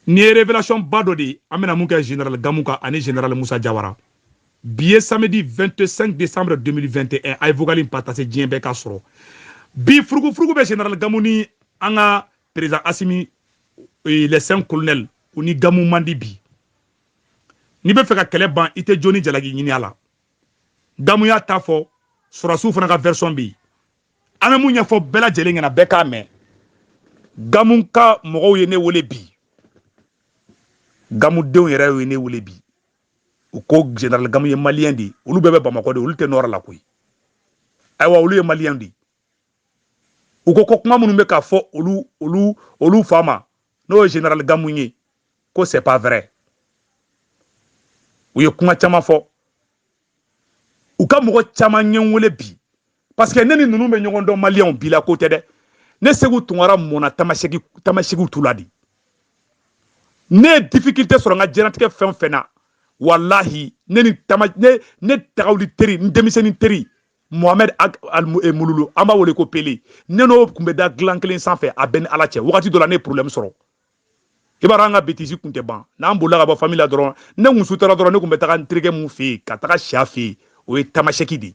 nin ye révélation ba dɔ de ye an bɛna mun kɛ général gamu kan ani général musa jawara bi ye samedi 25 décembre 2021 a ye vocal in partager diɲɛ bɛɛ k'a sɔrɔ bi furugufurugu bɛ général gamu ni an ka président asimi eh, les cinq colonels u ni gamu man di bi n'i b'a fɛ ka kɛlɛ ban i tɛ jo ni jalaki ɲini a la gamu y'a ta fɔ sɔrɔdasiw fana ka version bɛ yen an bɛ mun ɲɛfɔ bɛɛ lajɛlen ɲɛna bɛɛ k'a mɛn gamu ka mɔgɔw ye ne wele bi gamudenw yɛrɛ ye ne wele bi u ko général gamu ye maliyɛn de ye olu bɛɛ bɛ bamakɔ de olu tɛ nord la koyi ayiwa olu ye maliyɛn de ye u ko ko kuma minnu bɛ ka fɔ olu olu olu fa ma n'o ye général gamu ye ko c'est pas vrai u ye kuma caman fɔ u ka mɔgɔ caman ye n wele bi parce que ne ni ninnu bɛ ɲɔgɔn dɔn maliyɛnw bi la ko tɛ dɛ ne seku tunkara mɔna tamasɛki tamasɛkiw tu la de ne ye difficulté sɔrɔ n ka diɲɛnatigɛ fɛn o fɛn na walahi ne ni tama ne ne tagawuli teri n denmisɛnnin teri mohamɛd eh, mululu an b'a wele ko pele ne n'o tun bɛ da dilan kelen sanfɛ a bɛ n ni ala cɛ wagati dɔ la ne ye problème sɔrɔ i b'a dɔn an ka bêtise kun tɛ ban n'an bolila ka bɔ famille la dɔrɔn ne kun sutara dɔrɔn ne kun bɛ taga n terikɛ mun fɛ yen ka taga si a fɛ yen o ye tamasɛki de ye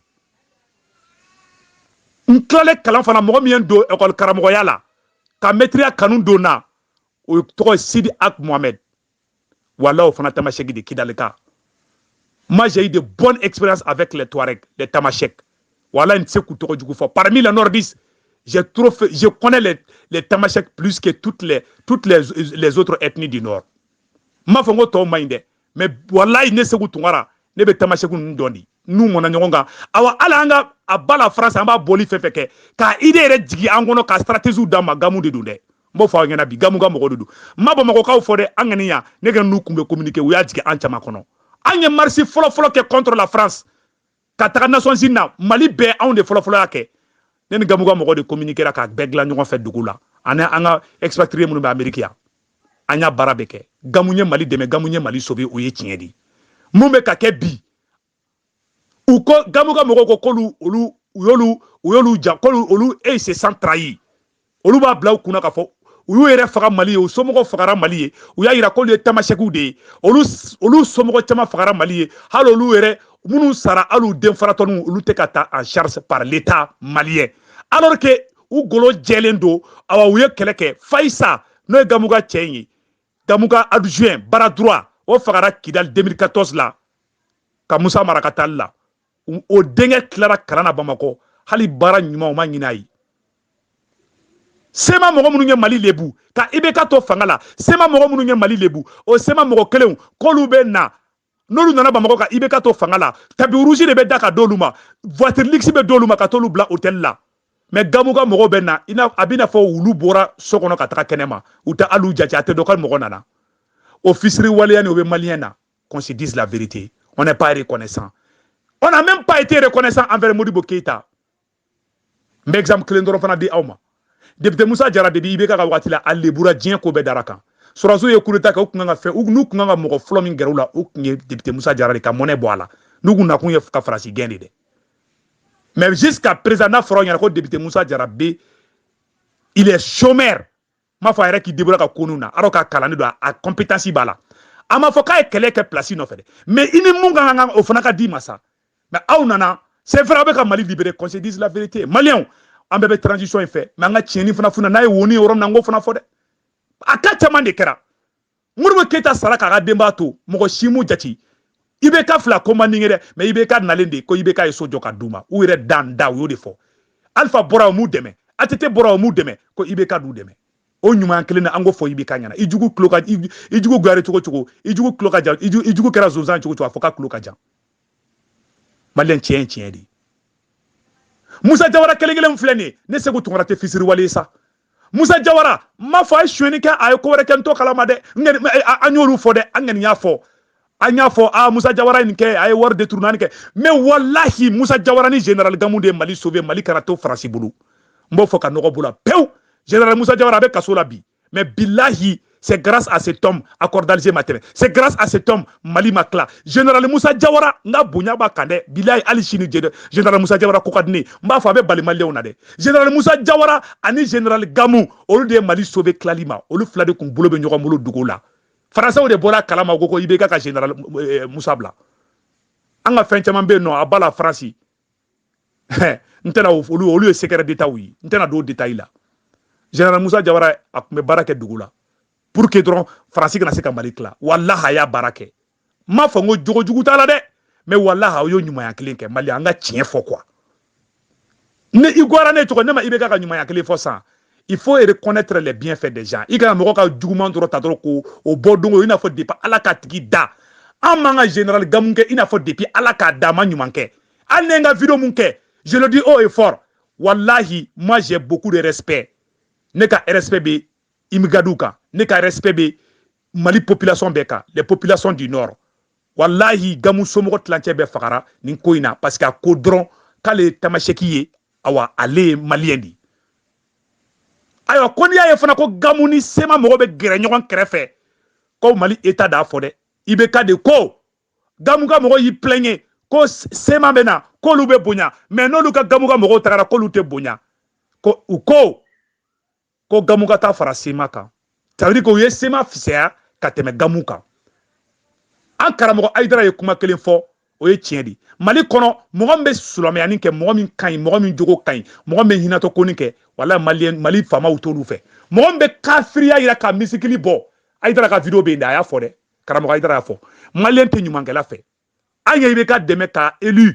n tilalen kalan fana mɔgɔ min ye n don ekɔli karamɔgɔya la ka mɛtiriya kanu don n na o tɔgɔ ye sidi ag mohamɛd voilà o fana tamasɛki de kidalika moi j'ai eu de bonnes expériences avec les Touaregs les Tamashek voilà n tɛ se k'u tɔgɔ jugu fɔ parmi les nordistes j'ai trop fait, je connais les, les Tamashek plus que toutes les toutes les, les autres ethnies du nord n m'a fɔ n ko tɔw man ɲi dɛ mais walayi ne seku tunkara ne bɛ Tamashek ninnu dɔn de n n'u mɔna ɲɔgɔn kan awa hali an ka à bas la France an b'a boli fɛn o fɛn kɛ k'a idée yɛrɛ jigin an kɔnɔ ka stratégies d'an ma gamu de don dɛ n b'o fɔ aw ɲɛna bi gamu ka mɔgɔ de don n ma bamakɔkaw fɔ dɛ an kɔni yan ne ka n'u kun bɛ communiquer u y'a jigin an caman kɔnɔ an ye marche fɔlɔfɔlɔ kɛ contre la france ka taga nations unies na mali bɛɛ anw de fɔlɔfɔlɔ y'a kɛ ne ni gamu ka mɔgɔ de communiquera k'a bɛɛ dilan ɲɔgɔn fɛ dugu la ani an ka expatrié minnu bɛ ameriki yan an y'a baara bɛɛ kɛ gamu ye mali dɛmɛ gamu ye mali sauver o ye tiɲɛ de ye mun bɛ ka kɛ bi u ko gamu ka mɔgɔw ko k'olu olu u y'olu u y'olu ja k'olu olu ils se sentent trahis olu b'a bila u kun na k'a fɔ u y'u yɛrɛ faga mali ye u somɔgɔw fagara mali ye u y'a yira k'olu ye tamasɛkiw de ye olu olu somɔgɔ caman fagara mali ye hali olu yɛrɛ minnu sara hali u den falatɔninw olu tɛ ka ta en charge par l'état malien alors que u golo jɛlen don awa u ye kɛlɛ kɛ fayisa n'o ye gamu ka cɛ in ye gamu ka adjoint bras droit o fagara kidali 2014 la ka musa mara ka taali la o denkɛ tilara kalan na bamakɔ hali baara ɲuman o ma ɲin'a ye cma mɔgɔ minnu ye mali lebu ka ibk to fanga la cma mɔgɔ minnu ye mali lebu o cma mɔgɔ kelenw k'olu bɛ na n'olu nana bamakɔ ka ibk to fanga la tapis rouge de bɛ da ka d'olu ma voiture luxe bɛ d'olu ma ka t'olu bila hôtel la mais gamu ka mɔgɔw bɛ na a bɛ n'a fɔ wulu bɔra so kɔnɔ ka taga kɛnɛma u tɛ hali u jate a tɛ dɔn ko mɔgɔ nana o fisiriwaleya nin o bɛ maliyɛn na qu'on se dise la vérité on n'est pas reconnaissant on n'a même pas été reconnaissant envers Modibo Keita n bɛ exemple kelen dɔrɔn fana di aw ma depite musa jara depuis ibk ka wagati la a lebura diɲɛ ko bɛɛ dar'a kan sɔrɔdasiw ye coup d'état kɛ u tun kan ka fɛn u tun kan ka mɔgɔ fɔlɔ min gɛrɛ u la o tun ye depite musa jara de ka mɔnɛ bɔ a la n'u kun nakun ye ka faransi gɛn de dɛ mais jusqu'à présent n'a fɔra aw ɲɛna ko depite musa jara bi il est chômeur n m'a fɔ a yɛrɛ k'i débrouiller ka ko ninnu na alors k'a kalannen don a compétence b'a la a ma fɔ k'a ye kɛlɛ kɛ place nɔfɛ dɛ mais i ni mun ka kan o fana ka d'i ma sa mais aw nana c'est vrai aw bɛ ka mali libérer qu'on se dise la vérité maliyɛnw an bɛɛ bɛ transition in fɛ mais an ka tiɲɛni fana funa n'a ye woni yɔrɔ min na n k'o fana fɔ dɛ a ka caman de kɛra modibo keyita sara k'a ka denbaya to mɔgɔ si m'u jate ibk fila ko man di n ye dɛ mais ibk nalen de ko ibk ye so jɔ ka d'u ma u yɛrɛ dan da u y'o de fɔ alifa bɔra o m'u dɛmɛ att bɔra o m'u dɛmɛ ko ibk d'u dɛmɛ o ɲuman kelen na an k'o fɔ ibk ɲɛna i jugu tulo ka i jugu kɛra cogo cogo i jugu tulo ka jan i jugu kɛra zonzan cogo cogo a fɔ k'a tulo ka jan maliyɛn tiɲɛ ye tiɲɛ de ye musa jawara kelen kelen filɛ nin ye ne segu tunkara tɛ fisiriwale ye sa musa jawara n m'a fɔ a ye sonyɛni kɛ a ye ko wɛrɛ kɛ n t'o kalama dɛ an y'olu fɔ dɛ an kɔni y'a fɔ an y'a fɔ aa musa jawara ye nin kɛ a ye wari détournéni kɛ mais walahi musa jawara ni general gamu de ye mali sauver mali kana to faransi bolo n b'o fɔ ka nɔgɔ b'o la pewu general musa jawara a bɛ kaso la bi mais bilahi C'est grâce à cet homme accord d'Alger ma tɛmɛ. C'est grâce à cet homme Mali ma tila. Général Moussa Diawara, n ka bonya b'a kan dɛ, bilahi hali sini Général Moussa Diawara ko ka di n ye, n b'a fɔ a bɛ bali maliyɛnw na dɛ. Général Moussa Diawara ani Général Gamou, olu de ye Mali sauver tilali ma, olu fila de kun bolo bɛ ɲɔgɔn bolo dugu la. Françaisw de bɔl'a kalama k'u ko IBK ka Général euh, Moussa bila. An ka fɛn caman bɛ yen nɔ a b'a la faransi n tɛna olu olu ye secret d'état ye n tɛna don détail la général Musa Jawara a tun bɛ baara kɛ dugu la pour que dɔrɔn faransi kana se ka mali tila walahi a y'a baara kɛ n m'a fɔ n ko jogo jugu t'a la dɛ mais walahi a y'o ɲumanya kelen kɛ mali an ka tiɲɛ fɔ quoi ne i gwara ne cogo ne ma ibk ka ɲumanya kelen fɔ san il faut reconnaître les bienfaits des gens i kana mɔgɔ ka juguman dɔrɔn ta dɔrɔn ko o bɔ don o i n'a fɔ depuis ala k'a tigi da an man ka général gamu kɛ i n'a fɔ depuis ala k'a da a ma ɲuman kɛ hali ne ka video mun kɛ je le dis haut et fort wallahi moi j'ai beaucoup de respect ne ka respect bɛ imigadiw kan ne ka respect bɛ mali population bɛɛ kan les populations du nord wallahi gamu somɔgɔ tilancɛ bɛɛ fagara nin ko in na parce que a ko dɔrɔn k'ale ye tamaseki ye awa ale ye maliyɛn de ye ayiwa ko n'i y'a ye fana ko gamu ni sema mɔgɔ bɛ gɛrɛ ɲɔgɔn kɛrɛfɛ ko mali eta d'a fɔ dɛ IBK de ko gamu ka mɔgɔ y'i plɛɲe ko sema bɛ na k'olu bɛ bonya mais n'olu ka gamu ka mɔgɔw tagara k'olu tɛ bonya ko u ko ko gamu ka taa fara sema kan ça veut dire k'u ye sema fisaya ka tɛmɛ gamu kan an karamɔgɔ ayidara ye kuma kelen fɔ o ye tiɲɛ de mali kɔnɔ mɔgɔ min bɛ silamɛyani kɛ mɔgɔ min ka ɲi mɔgɔ min jogo ka ɲi mɔgɔ min bɛ hinatɔ koni kɛ wala mali mali faamaw t'olu fɛ mɔgɔ min bɛ kafiriya yira ka misikili bɔ ayidara ka video bɛ yen dɛ a y'a fɔ dɛ karamɔgɔ ayidara y'a fɔ maliyɛn tɛ ɲumankɛla fɛ an ye IBK dɛmɛ k'a élu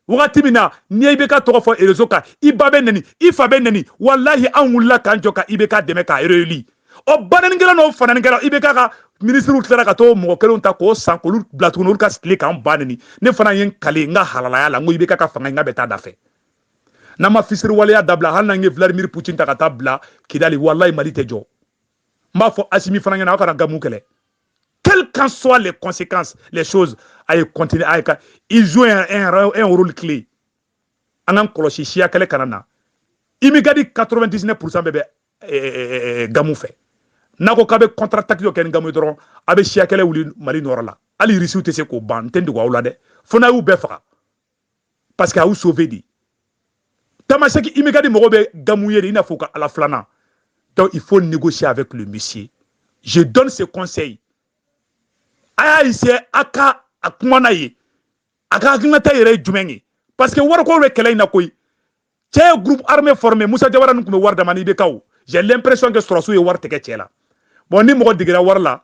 wagati min na n'i ye IBK tɔgɔ fɔ erezo kan i ba bɛ nɛni i fa bɛ nɛni walahi an wulila k'an jɔ ka IBK dɛmɛ k'a élu o banɛnikɛla n'o fanɛnikɛla IBK ka minisiriw tilara ka t'o mɔgɔ kelenw ta k'o san k'olu bila tuguni olu ka tile k'an ba nɛni ne fana ye n kali n ka halalaya la n ko IBK ka fanga n ka bɛ taa da fɛ n'an ma fisiriwaleya dabila hali n'an ye vladimir putin ta ka taa bila kidali walayi mali tɛ jɔ n b'a fɔ asimi fana ɲɛna aw kana gamu kɛlɛ quelles qu'en soient les conséquences les choses a ye continuer a ye car il joue un, un, un rôle clé an k'an kɔlɔsi siya kɛlɛ kana na imigadi 99 pourcent bɛɛ bɛ eh, eh, eh, gamu fɛ n'a ko k'a bɛ contre attaque dɔ kɛ ni gamu ye dɔrɔn a bɛ siya kɛlɛ wuli mali nɔrɔ la hali irisiw tɛ se k'o ban n tɛ n dogo aw la dɛ fo n'a y'u bɛɛ faga parce que a y'u sauvé de tamaseki imigadi mɔgɔ bɛ gamu ye de i n'a fɔ u ka ala filanan donc il faut négocier avec le monsieur je donne ce conseil a y'a essayer a ka a kuma n'a ye a ka hakilinata yɛrɛ ye jumɛn ye parce que wariko bɛ kɛlɛ in na koyi cɛ ye groupe armé formé musa jawara nin tun bɛ wari d'a ma n'IBKw j'ai l'impression que sɔrɔsiw ye wari tigɛ cɛ la bon ni mɔgɔ digira wari la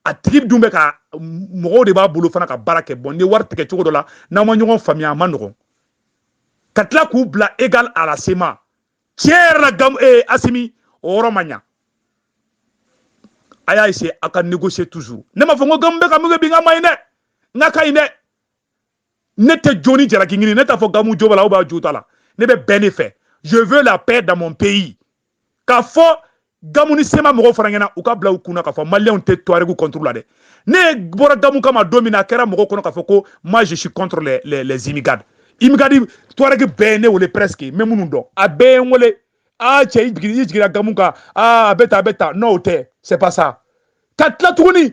a tigi dun bɛ ka mɔgɔw de b'a bolo fana ka baara kɛ bon ni wari tigɛ cogo dɔ la n'aw ma ɲɔgɔn faamuya a man nɔgɔn ka tila k'u bila égal à la sema tiɲɛ yɛrɛ la gam ee eh, asimi o yɔrɔ ma ɲa a y'a essayer a ka négocier toujours ne m'a fɔ n ko gamu bɛ ka min kɛ bi n k'a man ɲi dɛ n k'a ka ɲi dɛ ne tɛ jo ni jalaki ɲini ne t'a fɔ gamu jo b'a la ou bien jo t'a la ne bɛ bɛn de fɛ je veux la paix dans mon pays k'a fɔ gamu ni sema mɔgɔw fana ɲɛna u k'a bila u kun na k'a fɔ maliyɛnw tɛ tuaregu contre la dɛ ne bɔra gamu kama don min na a kɛra mɔgɔw kɔnɔ k'a fɔ ko moi je suis contre les, les, les imigadi imigadi tuaregi bɛɛ ye ne wele presque n bɛ minnu dɔn a bɛɛ ye n wele aa cɛ i jiginna gamu kan aa a bɛ tan a bɛ tan non o tɛ c'est pas ça ka tila tuguni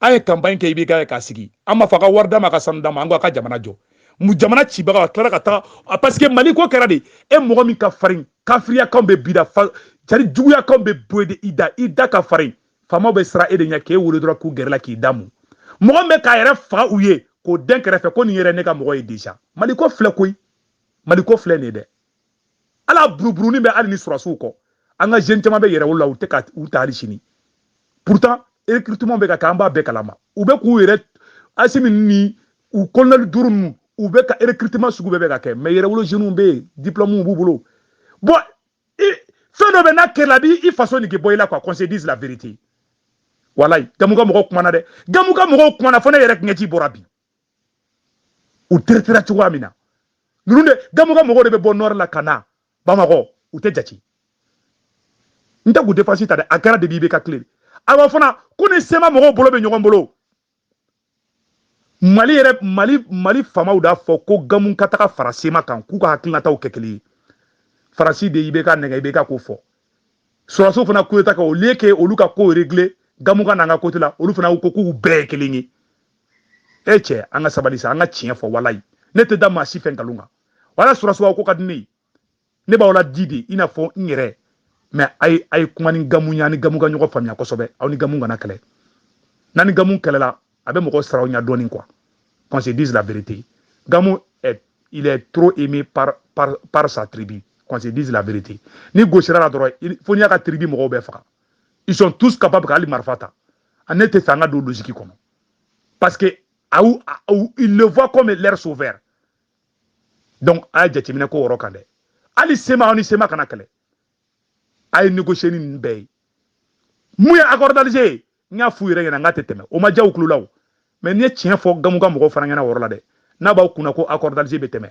an ye campagne kɛ IBK ye k'a sigi an ma fɔ a ka wari d'an ma a ka sanu d'an ma an ko a ka jamana jɔ mu jamana cibaga a tilara ka taga parce que mali ko kɛra de e mɔgɔ min ka farin kafiriyakanw bɛ b'i da c'est-à-dire juguyakanw bɛ bɔ e de i da i da ka farin faamaw bɛ siran e de ɲɛ k'e wolo dɔrɔn k'u gɛrɛ la k'i damu mɔgɔ min bɛ k'a yɛrɛ faga u ye k'o den kɛrɛfɛ ko nin yɛrɛ ne ka mɔgɔ ye déjà mali ko filɛ koyi mali ko filɛ nin ye dɛ ala buruburunin bɛ hali ni sɔrɔsiw kɔ an ka jeune caman bɛ yɛrɛwolo la u tɛ ka u ta hali sini pourtant recrutement bɛ ka kɛ an b'a bɛɛ kalama u bɛ k'u yɛrɛ asimi ni u colonel duuru ninnu u bɛ ka recrutement sugu bɛɛ bɛ ka kɛ mais yɛrɛwolo jeunes bɛ yen diplômes b'u bolo bon fɛn dɔ bɛ n'a kɛra a b'i faso nege bɔ i la quoi qu'on se dise la vérité walayi gamu ka mɔgɔw kumana dɛ gamu ka mɔgɔw kumana fo ne yɛrɛ ɲɛji bɔra bi u traitera cogoya min na ninnu de gamu ka mɔgɔw de bɛ bɔ nord la ka na bamakɔ u tɛ jate n tɛ k'u défense ta dɛ a kɛra de bi IBK tile awa fana ko ni CMA mɔgɔw bolo bɛ ɲɔgɔn bolo mali yɛrɛ mali mali faamaw d'a fɔ ko gamu ka taga fara CMA kan k'u ka hakilinataw kɛ kelen ye faransi de IBK nɛgɛn IBK k'o fɔ sɔrɔsiw fana coup d'État kɛ au lieu que olu ka ko régler gamu ka n'an ka côté la olu fana ko k'u bɛɛ ye kelen ye e cɛ an ka sabali sa an ka tiɲɛ fɔ walayi ne tɛ da maa si fɛ nkalon kan wala sɔrɔsiw ko ka di ne ye ne b'aw laadi de i n'a fɔ n yɛrɛ mais a ye a ye kuma ni gamu ye a ni gamu ka ɲɔgɔn faamuya kosɛbɛ aw ni gamu kana kɛlɛ n'a ni gamu kɛlɛla a bɛ mɔgɔ saraw ɲɛ dɔɔni quoi qu'on se dise la vérité gamu est, il est trop aimé par, par, par sa tribu qu'on se dise la vérité n'i gosira la dɔrɔn fo n'i y'a ka tribu mɔgɔw bɛɛ faga ils sont tous capables ka hali marifa ta ne t'a fɛ an ka don logique kɔnɔ parce que a y'u a- u- ils le voient comme leur sauveur donc a ye jateminɛ k'o yɔrɔ kan dɛ hali CMA aw ni CMA kana kɛlɛ a ye négocier ni ninnu bɛɛ ye mun ye accord d'Alger ye n y'a f'u yɛrɛ ɲɛna n k'a tɛ tɛmɛ o ma diya u tulo la o mais n'i ye tiɲɛ fɔ gamu ka mɔgɔw fana ɲɛna o yɔrɔ la dɛ n'a b'aw kunna ko accord d'Alger bɛ tɛmɛ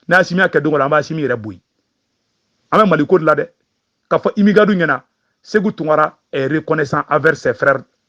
n'asimi y'a kɛ don dɔ la an b'asimi yɛrɛ bɔ yen an bɛ mali ko de la dɛ k'a fɔ imigadiw ɲɛna seku tunkara est reconnaissant envers ses frères